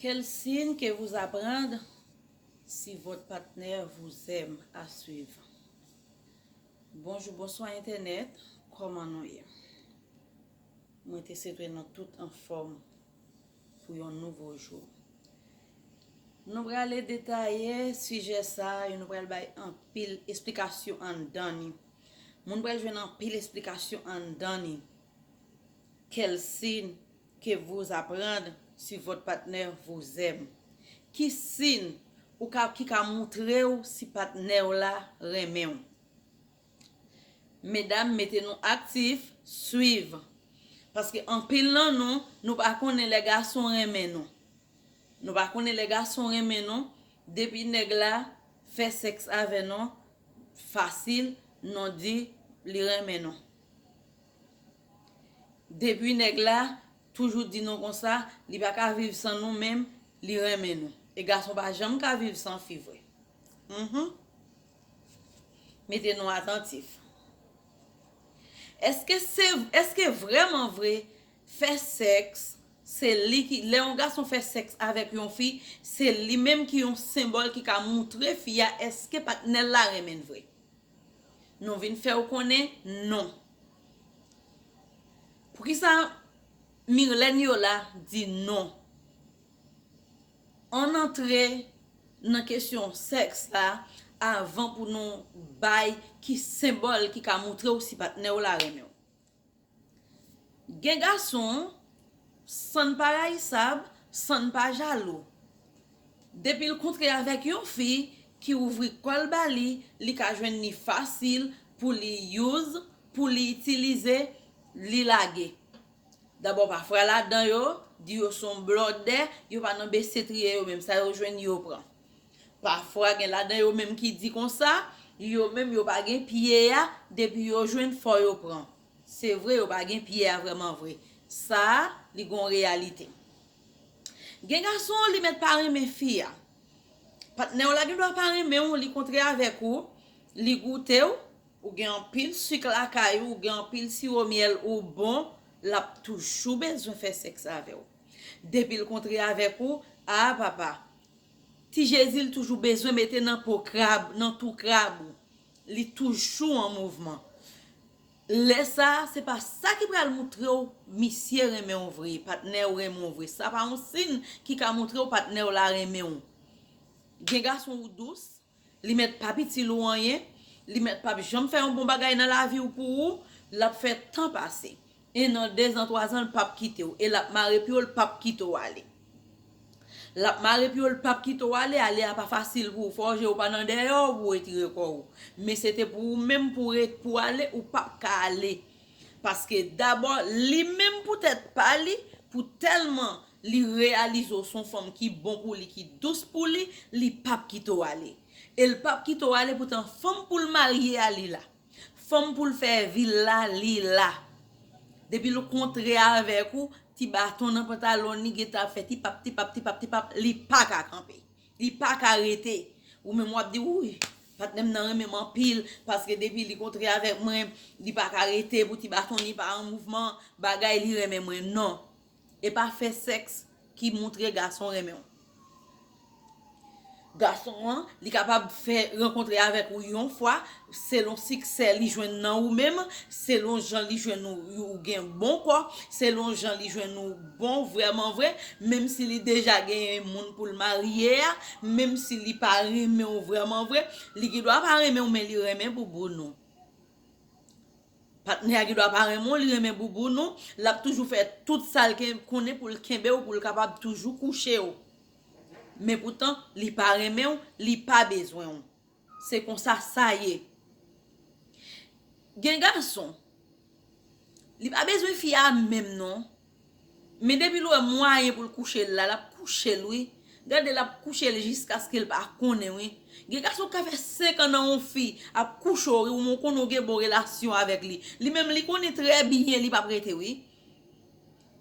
Quel signe que vous apprendre si votre partenaire vous aime à suivre? Bonjou bonswa entènèt, kòman nou ye? Mwen te swete nou tout anfòm pou yon nouvo jou. Nou prale detaye sijè sa, e nou pral bay anpil esplikasyon anndan ni. Moun pral jwenn anpil esplikasyon anndan ni. Kèl sin Que vous apprendre si votre partenaire vous aime? Ki sin ou ka ki ka moutre w si patnè w la renmen w? Medam mete nou aktif, swiv. Paske anpil nan nou, nou pa konnen lè gason renmen nou. Nou pa konnen lè gason renmen nou, depi nèg la fè sèks avè nou fasil, nou di li renmen nou. Depi nèg la toujou di nou konsa li pa ka viv san nou menm li renmen nou e gason pa janm ka viv san fi vre humm mete nou atantif eske vreman vre fè sèks se li ki lè yon gason fè sèks avèk yon fi se li menm ki yon senbòl ki ka moutre fi a eske patnèl la renmenn vre. Nou vin fè ou konnen non. Poukisa Mirlène Yola di non? Ann antre nan kesyon sèks la avan pou nou bay ki senbòl ki ka moutre ou si patnè w la renmen w. Gen gason San n pa rayisab San n pa jalou Depi l kontre avèk yon fi ki ouvri kò l ba li li ka jwenn li fasil pou li use pou li itilize li lage dabò pa fra ladan yo di yo son blòdè yo pa nan bese triye yo menm sa yo jwenn yo pran Pafwa gen ladan yo menm ki di konsa, yo menm yo pa gen pye a, depi yo jwenn fò yo pran. Se vre yo pa gen pye a vrèman vre. Sa a, li gon reyalite. Gen gason li mèt pa renmen fi a. Patnè w la gen dwa pa renmen w, li kontre avèk ou, li goute w, ou gen anpil sik lakay ou, ou gen anpil siwo myèl, ou bon, l ap toujou bezwen fè sèks avè w. Depi l kontre avèk ou, a papa! Ti jezi l toujou bezwen mete nan po krab nan tou krab ou li toujou an mouvman lè sa se pa sa ki pral moutre w misye renmen w vre patnè w renmen w vre sa pa yon sin ki ka moutre w patnè w la renmen w gen gason ou dous. Li mèt pap itil ou anyen, li mèt pap janm fè yon bon bagay nan lavi ou pou ou, lap fè tan pase. 1 an, 2 zan, 3 zan l pap kite w e lap mare pye w l pap kite w ale. Lap mare pye w l pap kite w ale, ale a pa fasil pou ou fò je ou pa nan dèyè w pou w etire kò ou. Men se te pou ou menm pou w ale ou pap ka ale. Paske dabò li menm pou tèt pa li, pou tèlman li reyalize w son fanm ki bon pou li ki dous pou li, li pap kite w ale. E l pap kite w ale poutan fanm pou l marye a li la. Fanm pou l fè vi l la li la. Depi l kontre avèk ou, ti baton nan pantalon li gentan ap fè tipap tipap tipap tipap li paka kanpe. Li paka rete. Ou menm wap di wouyy patnèm nan renmen m anpil paske depi li kontre avèk mwen li paka rete pou ti baton li pa an mouvman bagay li renmen mwen non e pa fè sèks ki moutre gason renmen w gason an li kapab fè rankontre avèk ou yon fwa selon siksè li jwenn nan ou menm, selon jan li jwenn ou ou gen bon kò, selon jan li jwenn ou bon vrèman vre, menm si li deja genyen moun pou l marye a, menm si li pa renmen ou vrèman vre, li gen dwa pa renmen ou men li renmen bouboun ou. Patnè a gen dwa pa renmen ou, li renmen bouboun ou, l ap toujou fè tout sa l konnen pou l kenbe ou, pou l kapab toujou kouche ou. Men poutan, li pa renmen ou, li pa bezwen ou. Se konsa sa ye. Gen gason, li pa bezwen fi a menm non. Men depi l wè mwayen pou l kouche l la, l ap kouche l wi. Gade l ap kouche l jiskaske l pa konnen wi. Gen gason k ka fè senkan nan yon fi ap kouche w wi, ou menm ou konnen ou gen bon relasyon avèk li. Li menm li konnen trè byen li p ap rete wi.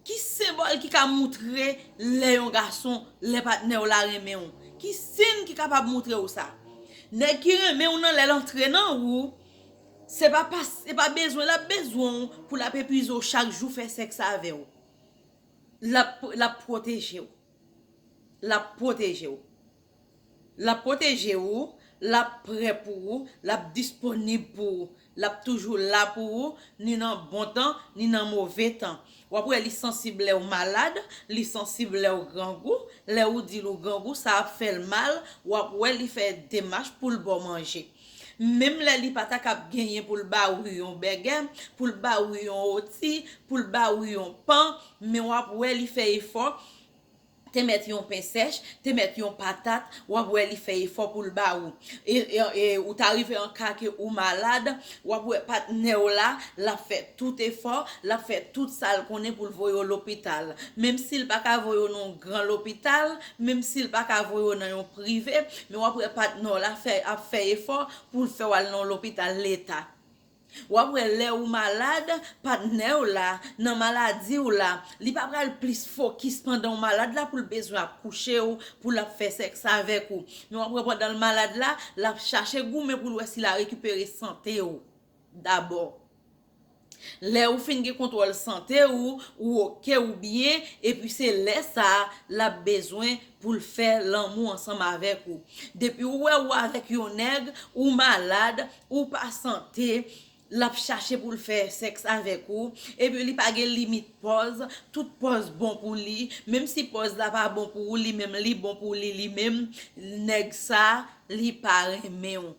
Ki senbòl ki ka moutre lè yon gason, lè patnè w la renmen w? Ki sin ki kapab moutre w sa? Nèg ki renmen w nan lè l antre nan ou, se pa pas, se pa bezwen l ap bezwen w pou l ap epize w chak jou fè sèks avè w. L ap, l ap pwoteje w. L ap pwoteje w. L ap pwoteje ou, l ap prè pou ou, l ap disponib pou ou. L ap toujou la pou ou, ni nan bon tan, ni nan move tan. W ap wè li sansib lè ou malad, li sansib lè ou grangou. Lè ou di l ou grangou, sa ap fè l mal, w ap wè li fè demach pou l ba w manje. Menm lè li pa ta kab genyen pou l ba ou yon bègè, pou l ba ou yon woti, pou l ba ou yon pan, men w ap wè li fè efò te mèt yon pen sèch, te mèt yon patat, w ap wè li fè efò pou l ba ou. E ou ta rive an ka ke ou malad, w ap wè patnè w la, l ap fè tout efò, l ap fè tout sa l konnen pou l voye w lopital. Menm si l pa ka voye w nan yon gran lopital, menm si l pa ka voye w nan yon prive, men w ap wè patnè w la ap fè efò pou l fè w al nan yon lopital leta. Wap wè lè ou malad, patnèw la, nan maladiw la, li pa pral plis fokis pandanw malad la poul bezwen ap kouchew, poul ap fè sèks avèk ou. Men wap wè pandanl malad la, lap chache goumen poul wè si la rekipere santew dabò. Lè ou fin gen kontwòl sante ou, ou ok, ou byen, epi se lè sa lap bezwen poul fè lanmou ansanm avèk ou. Depi ou wè ou avèk yon nèg, ou malad, Ou pa sante, l ap chache pou l fè sèks avèk ou, epi li pa gen limit pòz, tout pòz bon pou li, menm si pòz la pa bon pou ou li menm li bon pou li li menm, nèg sa li pa renmen w.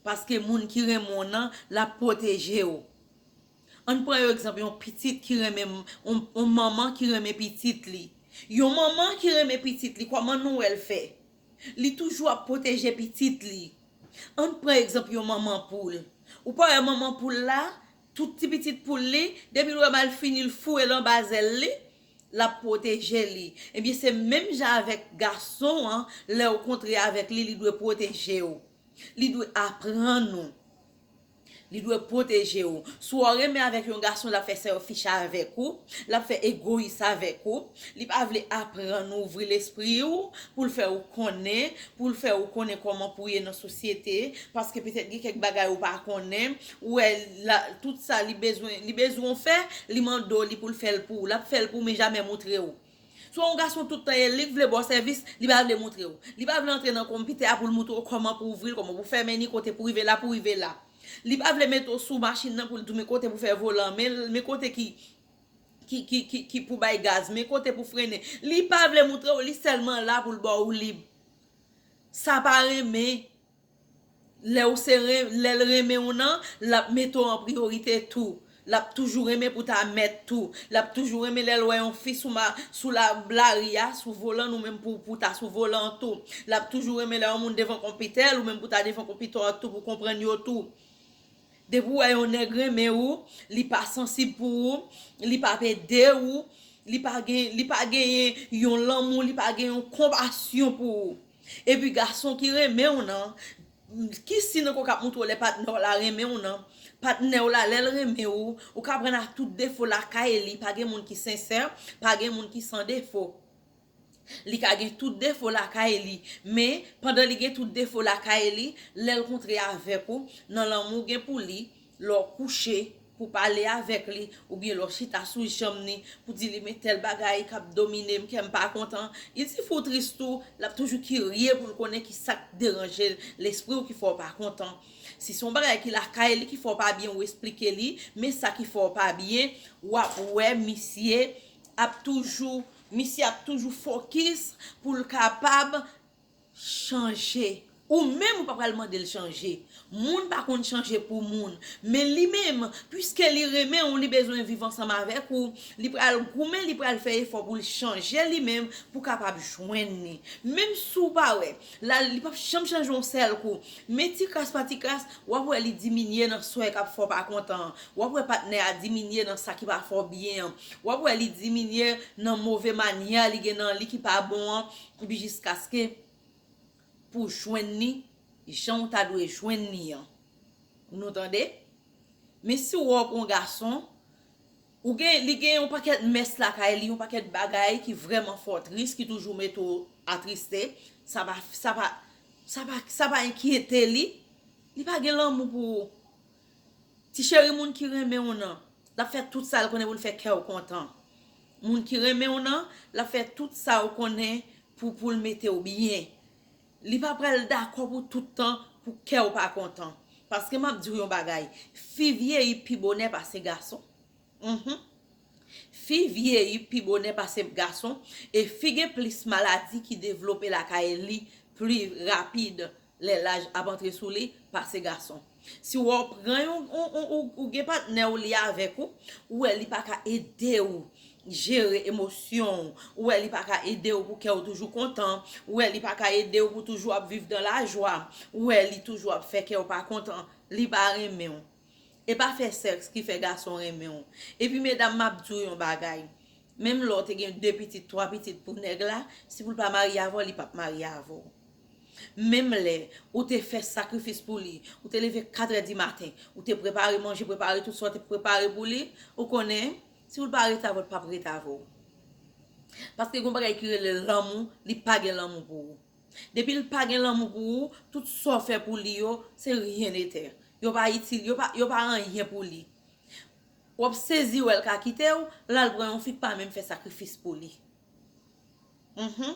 Paske moun ki renmen w nan l ap pwoteje w. An n pran yon egzanp yon pitit ki renmen, yon manman ki renmen pitit li. Yon manman ki renmen pitit li kòman nou wè l fè? Li toujou ap pwoteje pitit li. Ann pran egzanp yon manman poul. Ou pa wè manman poul la, tout ti pitit poul li, depi l wè malfini l foure l anba zèl li, l ap pwoteje li. Ebyen se menm jan avèk gason an, lè ou kontre avèk li, li dwe pwoteje ou. Li dwe aprann ou. Li dwe pwoteje ou. Si w renmen avèk yon gason l ap fè selfish avèk ou, l ap fè egoyis avèk ou, li pa vle aprann ou ouvri lespri ou, pou l fè ou konnen, pou l fè ou konnen kòman pou w ye nan sosyete, paske petèt gen kèk bagay ou pa konnen, ou wè la tout sa li bezwen, li bezwen w fè, li mande w li pou l fè l pou ou, l ap fè l pou ou men jamè moutre ou. Swa yon gason tout tan ye, li k vle ba w sèvis, li pa vle moutre w. Li pa vle antre nan konpitè a pou l moutre w kòman pou w ouvri l, kòman pou w fèmen li, kote pou w rive la, pou w rive la. Li pa vle mete w sou machin nan pou l di w men kote pou w fè volan, men men kote ki ki ki pou bay gaz, men kote pou frennen. Li pa vle moutre w, li sèlman la pou l ba w lib. Sa pa renmen. Lè ou se lè l renmen ou nan, l ap mete w an priyorite tou. L ap toujou renmen pou ta mèt tou. L ap toujou renmen lè l wè yon fi sou lari a, sou volan l ou menm pou ou ta sou volan an tou. L ap toujou renmen lè yon moun devan konpitè l ou menm pou w ta devan konpitè w tou pou w konprann yo tou. Depi w wè yon nèg renmen ou, li pa sansib pou ou, li pa p ede ou, li pa genyen yon lanmou, li pa gen yon konpasyon pou ou. Epi gason ki renmen w nan, ki siy nan kò w k ap montre w lè patnè w la renmen w nan? Patnè w la lè l renmen ou, ou ka pran l ak tout defo lakay li, pa gen moun ki sensè, pa gen moun ki san defo. Li ka gen tout defo lakay li, men, pandan li gen tout defo lakay li, lè l kontre avèk ou, nan lanmou w gen pou li, Lè w kouche, pou w pale avèk li, oubyen lè w chita sou janm ni, pou w di li men tèl bagay k ap domine m, kè m pa kontan. Li di fè w tris tou, l ap toujou kirye pou l konnen ki sa k deranje l, lespri w ki fè w pa kontan. Si se yon bagay ki lakay li ki fè w pa byen ou esplike li men sa ki fè w pa byen, w ap wè misye ap toujou, misye ap toujou fokis pou l kapab chanje ou menm ou pa pral mandel chanje moun pa konn chanje pou moun men li menm pwiske li renmen ou li bezwen viv ansanm avèk ou li pral goumen li pral fè efò poul chanje li menm pou kapab jwenn li menm si w pa wè lal li pap janm chanje yon sèl kou men ti kras pa ti kras wap wè li diminye nan swen kap fè w pa kontan an wap wè patnè a diminye nan sa ki pa fè w byen an wap wè li diminye nan move manyè li gen nan li ki pa bon an Epi jiskaske pou w jwenn li jan w ta dwe jwenn li an. Nou tande? Men si w wè w gen yon gason, ou gen, li gen yon pakèt mès lakay li, yon pakèt bagay ki vrèman fè w tris, ki toujou mete w atriste, sa pa, sa pa, sa pa, sa pa enkyete li, li pa gen lanmou pou ou. Ti cheri moun ki renmen w nan lap fè tout sal konnen poul fè kèw kontan moun ki renmen w nan lap fè tout sa ou konnen pou poul metew byen li pa pral dakò pou tout tan pou kèw pa kontan paske map diw yon bagay fi vyeyi pi bonè pase gason humm fi vyeyi pi bonè pase gason e fi gen plis maladi ki devlope lakay li pli rapid Lè laj ap antre sou li, pase gason. Si wè w pran yon ou gen patnè w li avèk ou, ou wè li pa ka ede w jere emosyon w, ou wè li pa ka ede w pou kè w toujou kontan, ou wè li pa ka ede w pou toujou ap viv dan lajwa, ou wè li toujou ap fè kè w pa kontan, li pa renmen w. E pa fè sèks ki fè gason renmen w. Epi medam map di w yon bagay, menm lè w te gen 2 pitit, 3 pitit pou nèg la, si pou l pa marye avè w li pap marye avè w. Menm lè ou te fè sakrifis pou li, ou te leve 4 è di maten, ou te prepare manje, prepare tout sa w te pou prepare pou li, ou konnen si pou l pa rete avè w li pap rete avè w. Paske gen yon bagay ki rele lanmou, li pa gen lanmou pou ou. Depi l pa gen lanmou pou ou, tout sa w fè pou li yo, se ryen etè. Yo pa itil, yo pa, yo pa anyen pou li. W ap sezi wè l ka kite w, l al pran yon fi k pa menm fè sakrifis pou li. Mph.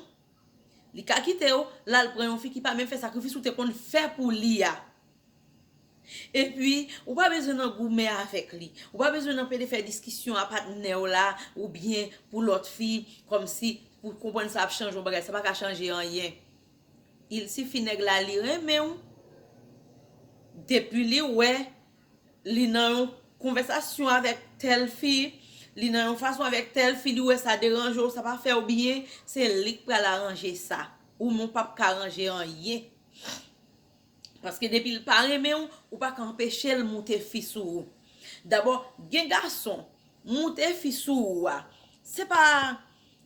Li ka kite w, l al pran yon fi ki pa menm fè sakrifis ou te konn fè pou li a. Epi, ou pa bezwen nan goumen avèk li. Ou pa bezwen nan pede fè diskisyon a patnè w la oubyen pou lòt fi kòmsi pou konprann sa ap chanje yon bagay. Sa pa ka chanje anyen. Il sifi nèg la li renmenw depi li wè li nan yon konvèsasyon avèk tèl fi li nan yon fason avèk tèl fi li wè sa deranjew sa pa fèw byen se lik pral aranje sa ou menw pap ka aranje anyen. Paske depi l pa renmen w, ou pa ka anpeche l moute fi sou ou. Dabò, gen gason, moute fi sou ou a, se pa,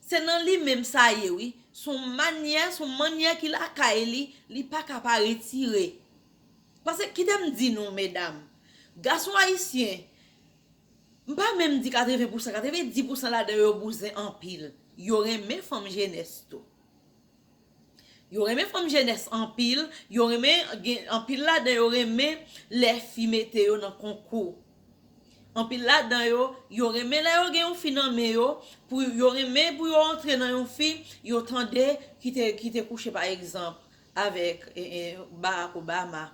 se nan li menm sa ye wi. Se yon manyè, se yon manyè ki lakay li, li pa ka pa retire. Paske kite m di nou medam, gason ayisyen, m pa menm di 80 pousan, 90 pousan ladan yo bouzen anpil. Yo renmen fanm jenès tou. Yo renmen fanm jenès anpil, yo renmen gen anpil ladan yo renmen lè fi mete yo nan konkou. Anpil ladan yo, yo renmen lè yo gen yon fi nan men yo, pou yo renmen pou yo antre nan yon fi, yo tande ki te ki te kouche pa egzanp avèk Barack Obama.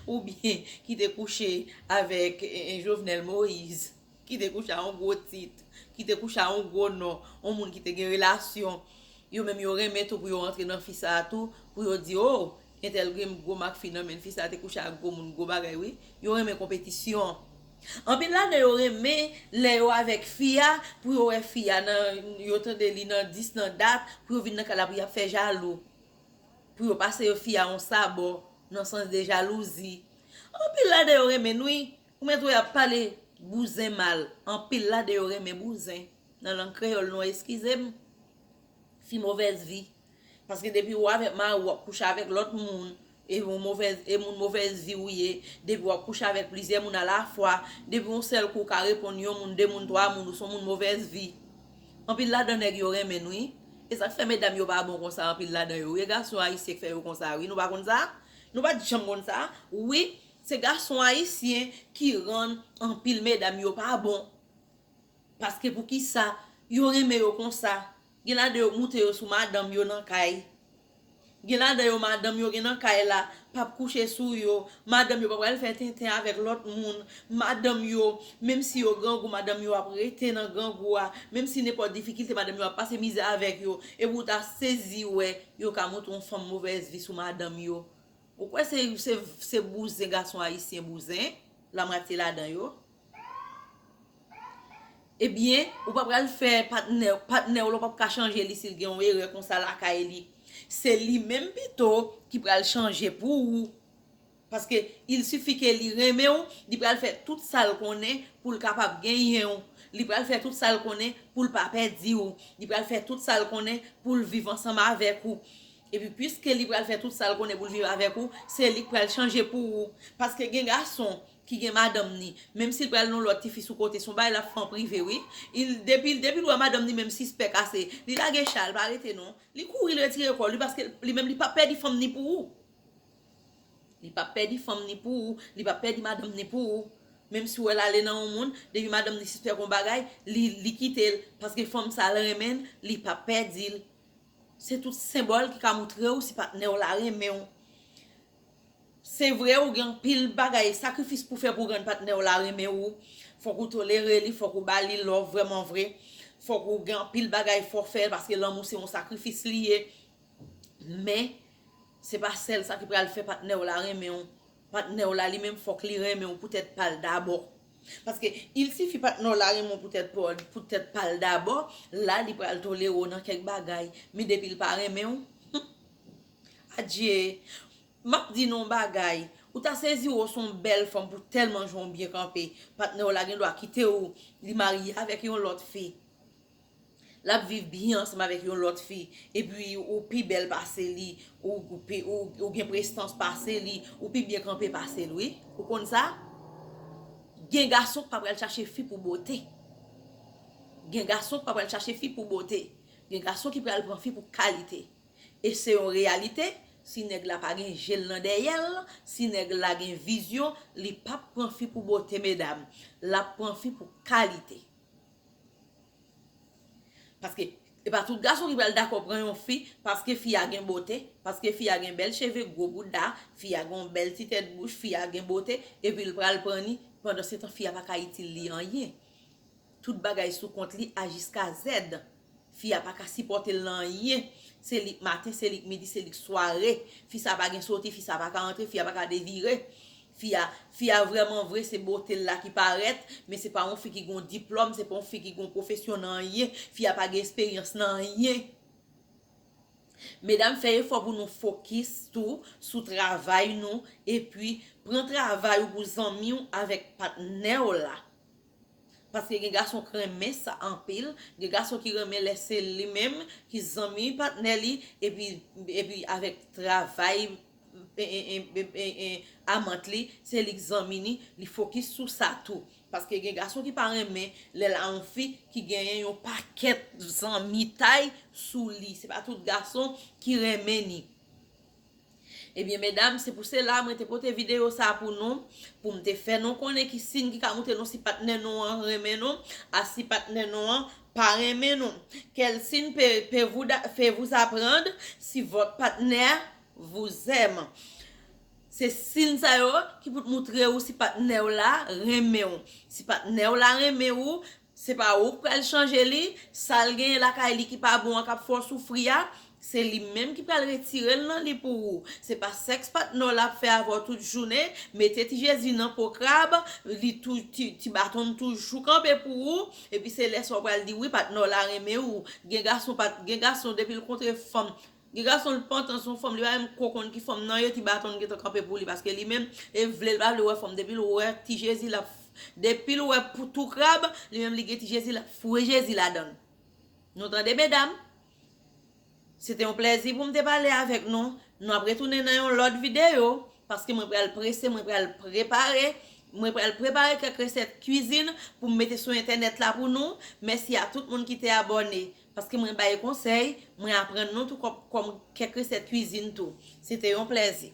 Ou byen ki te kouche avèk Jovenel Moise, ki te kouche a yon gwo tit, ki te kouche a yon gwo non, yon moun ki te gen relasyon, yo menm yo renmen tou pou yo antre nan fi sa a tou, pou yo di o, entèl gen gwo mak fi nan men l, fi sa a te kouche ak gwo moun, gwo bagay wi. Yo renmen konpetisyon. Anpil ladan yo renmen lè yo avèk fi a, pou yo wè fi a nan, yo tande li nan dis, nan dat, pou yo vin nan kay la pou y ap fè jalou. Pou yo pase yo fi a yon sabò nan sans de jalouzi. Anpil ladan yo renmenn wi. Ou mèt wè yap pale bouzen mal. Anpil ladan yo renmen bouzen. Nan lang kreyòl nou an eskize m. Fi movèz vi. Paske depi ou avèk mari w wap kouche avèk lòt moun. E yon movèz e moun movèz vi ou ye. Depi wap kouche avèk plizyè moun a la fwa. Depi yon sèl kou ou ka reponn yon moun, de moun, twa moun ou son moun movèz vi. Anpil ladan nèg yo renmenn wi. Esak fè medam yo pa bon konsa anpil ladan yo wi e gason ayisyen k fè yo konsa wi nou pa konn sa nou pat janm konn sa wi se gason ayisyen ki rann anpil medam yo pa bon paske poukisa yo renmen yo konsa gen ladan yo k moute yo sou madanm yo nan kay Gen ladan yo madanm yo gen nan kay la p ap kouche sou yo, madanm yo pa pral fè tenten avèk lòt moun, madanm yo menm si yo grangou madanm yo ap rete nan grangou a, menm si nenpòt difikilte madanm yo ap pase mizè avèk yo, epi ou ta sezi wè yo ka montre yon fanm movèz vi sou madanm yo, ou kwè se bouzen gason ayisyen bouzen, lamwatye ladan yo. Ebyen, ou pa pral fè patnè, patnè w la ou pap ka chanje li si l gen yon erè konsa lakay li. Se li menm pito ki pral chanje pou ou. Paske il sifi ke li renmen w, li pral fè tout sa l konnen pou l kapab genyen w. Li pral fè tout sa l konnen pou l pa pèdi w. Li pral fè tout sa l konnen pou l viv ansanm avèk ou. Epi pwiske li pral fè tout sa l konnen pou l viv avèk ou, se li k pral chanje pou ou. Paske gen gason ki gen madanm ni menm sil pral nan lòt tifi sou kote son bagay lap fè an prive wi il depil depil wè madanm ni menm sispèk ase li lage chal pa rete non li kouri li retire kòl wi paske li menm li pap pèdi fanm ni pou ou li pap pèdi fanm ni pou ou li pap pèdi madanm ni pou ou menm si wèl ale nan yon moun depi madanm ni sispèk yon bagay li li kitel paske fanm sa al renmenl li pap pèdil se tout senbòl ki ka moutrew si patnèw la renmenw Se vre ou gen anpil bagay sakrifis pou fè pou rann patnè w la renmen ou, fòk ou tolere li, fòk ou ba li love vrèman vre, fòk ou gen anpil bagay fò fè paske lanmou se yon sakrifis li ye men se pa sèl sa ki pral fè patnè w la renmen w, patnè w la li menm fòk li renmen w pou tèt pa l dabò paske il sifi patnè w la renmen w pou tèt pa l dabò la li pral tolere w nan kèk bagay men depi l pa renmen w. Adyee! Map di nou yon bagay, ou ta sezi wou son bèl fanm pou tèlman jan w byen kanpe, patnè w la gen dwa kite w li marye avèk yon lòt fi, lap viv byen ansanm avèk yon lòt fi, epi ou pi bèl pase li, ou gen prestans pase li, ou pi byen kanpe pase li wi, ou konn sa? Gen gason ki pa pral chache fi pou bote, gen gason ki pa pral chache fi pou bote, gen gason ki pral pran fi pou kalite. E se yon reyalite, si nèg la pa gen je l nan dèyè l, si nèg la gen vizyon, li p ap pran fi pou bote medam, l ap pran fi pou kalite. Paske, e pa tout gason ki pral dakò pran yon fi paske fi a gen bote, paske fi a gen bèl cheve, gwo bouda, fi a gen yon bèl ti tèt bouch, fi a gen bote, epi l pral pran li, pandansetan fi a pa ka itil li anyen. Tout bagay sou kont li a jiska zèd. Fi a paka sipòtel nan anyen. Se lik maten, se lik midi, se lik sware. Fi sa pa gen soti, fi sa paka antre, fi a paka devire. Fi a, fi a vrèman vre se botel la ki parèt, men se pa yon fi ki gon diplòm, se pa yon fi ki gon pwofesyon nan anyen, fi a pa gen esperyans nan anyen. Medam fè efò pou nou fokis tou sou travay nou epi pran travay ou pou zanmiw avèk patnèw la. Paske gen gason k renmen sa anpil, gen gason ki renmen lè se li menm ki zanmi patnè li epi avèk travay amant li, se li k zanmi ni, li fokis sou sa tou. Paske gen gason ki pa renmen lè l a yon fi ki genyen yon pakèt zanmitay sou li. Se pa tout gason ki renmen ni. Ebyen medam se pou sela mwen te pote video sa pou nou pou m te fè nou konnen ki siyn ki ka moutre nou si patnè nou an renmen nou a si patnè nou an pa renmen nou quel signe pe fe vous aprand si vot patnè vous aime se siyn sa yo ki pou t moutre ou si patnè w la renmen ou si patnè w la renmen ou Se pa ou k pral chanje li, sa l genyen lakay li ki pa bon an k ap fè w soufri a, se li menm ki pral retire l nan li pou ou. Se pa sèks patnè w la ap fè avè w tout jounen, mete ti jezi nan po krab, li tou, ti, ti baton l toujou kanpe pou ou, epi se lè sa w pral di wi patnè w la renmen ou. Gen gason pat, gen gason depi l kontre fanm Gen gason li pantan son fanm li pa menm ko konn ki fanm nan ye ti baton gentan kanpe pou li paske li menm e vle li pa vle wè fanm depil wè ti jezi lap depil wè pou tou krab li menm li gen ti jezi lap foure jezi ladann nou tande medam se te yon plèzi poum te pale avèk nou nou ap retounen nan yon lòt videyo paske mwen pral prese mwen pral prepare mwen pral prepare kèk resèt kwizin poum mete sou entènèt la pou nou mèsi a tout moun ki te abòne Paske mwen bay konsèy, mwen aprann nou tou kòm kèk resèt kwizin tou. Se te yon plèzi.